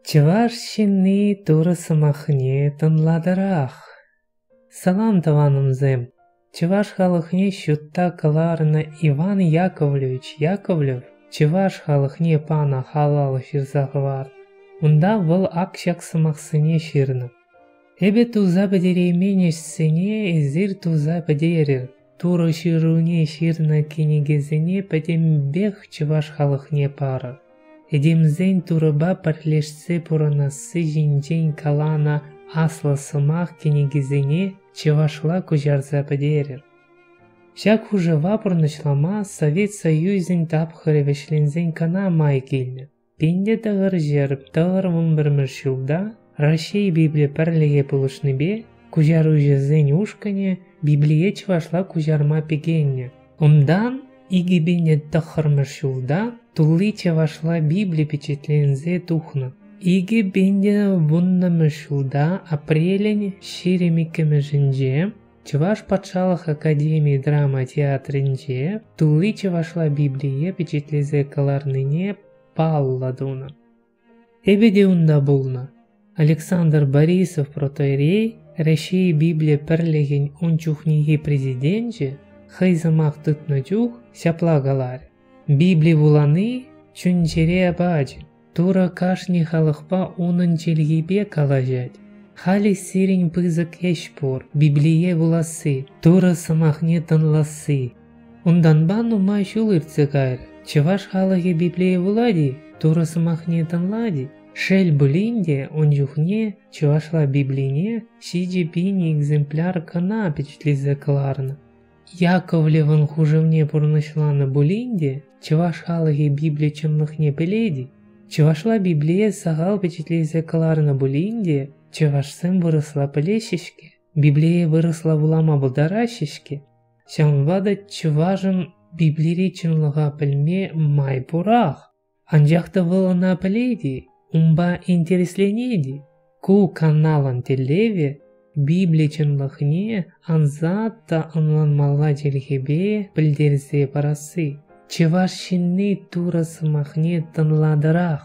Чӑваш ҫынни Турӑ сӑмахне тӑнлатӑрах. Салам, тӑванӑмсем! Чӑваш халӑхне ҫутта кӑларнӑ Иван Яковлевич Яковлев чӑваш халӑхне панӑ халал ҫырса хӑварнӑ. Унта вӑл ак ҫак сӑмахсене ҫырнӑ. Эпӗ туса пӗтереймен ӗҫсене эсир туса пӗтерӗр. Турӑ Ҫыруне ҫырнӑ кӗнекесене пӗтӗмпех чӑваш халӑхне парӑр. Этемсен Турӑпа пӗрлешсе пурӑнасси ҫинчен каланӑ аслӑ сӑмах кӗнекисене чӑвашла куҫарса пӗтерӗр. Ҫак хушӑва пурнӑҫлама Совет Союзӗн тапхӑрӗ вӗҫленсен кӑна май килнӗ. Пин те тӑхӑр ҫӗр, тӑхӑр вун пӗрмӗш ҫулта Раҫҫей Библи пӗрлӗхе пулӑшнипе куҫаруҫӑсен ушкӑнӗ Библие чӑвашла куҫарма пикеннӗ. Унтан икӗ пин те тӑххӑрмӗш ҫулта тулли чӑвашла Библи пичетленсе тухнӑ. Икӗ пин те вуннӑмӗш ҫулта апрелӗн ҫирӗм иккӗмӗшӗнче Чӑваш патшалӑх академи драма театрӗнче тулли чӑвашла Библие пичетлесе кӑларнине паллӑ тунӑ. Эпӗ те унта пулнӑ. Александр Борисов протоирей, Раҫҫей Библи пӗрлӗхӗн ун чухнехи президенчӗ хӑй сӑмах тытнӑ чух ҫапла каларӗ. Библи вулани чун-чӗре пачӗ, Турӑ кашни халӑхпа унӑн чӗлхипе калаҫать. Халӗ сирӗн пысӑк ӗҫ пур – Библие вуласси, Турӑ сӑмахне тӑнласси. Унтанпа нумай ҫул иртсе кайрӗ. Чӑваш халӑхӗ Библие вулать-и, Турӑ сӑмахне тӑнлать-и? Шел пулин те, ун чухне чӑвашла Библине ҫичӗ пин экземпляр кӑна пичетлесе кӑларнӑ. Яковлевӑн хушӑвне пурнӑҫланӑ пулин те чӑваш халӑхӗ Библи чӑнлӑхне пӗлет-и? Чӑвашла Библие сахал пичетлесе кӑларнӑ пулин те чӑвашсем вырӑсла пӗлеҫҫӗ-ҫке, Библие вырӑсла вулама пултараҫҫӗ-ҫке. Ҫавӑнпа та чӑвашӑн Библири чӑнлӑха пӗлме май пурах. Анчах та вӑл ӑна пӗлет-и, унпа интересленет-и? Ку каналӑн тӗллевӗ Библи чӑнлӑхне ансат та ӑнланмалла чӗлхепе пӗлтерсе парасси. Чӑваш ҫынни Турӑ сӑмахне тӑнлатӑрах.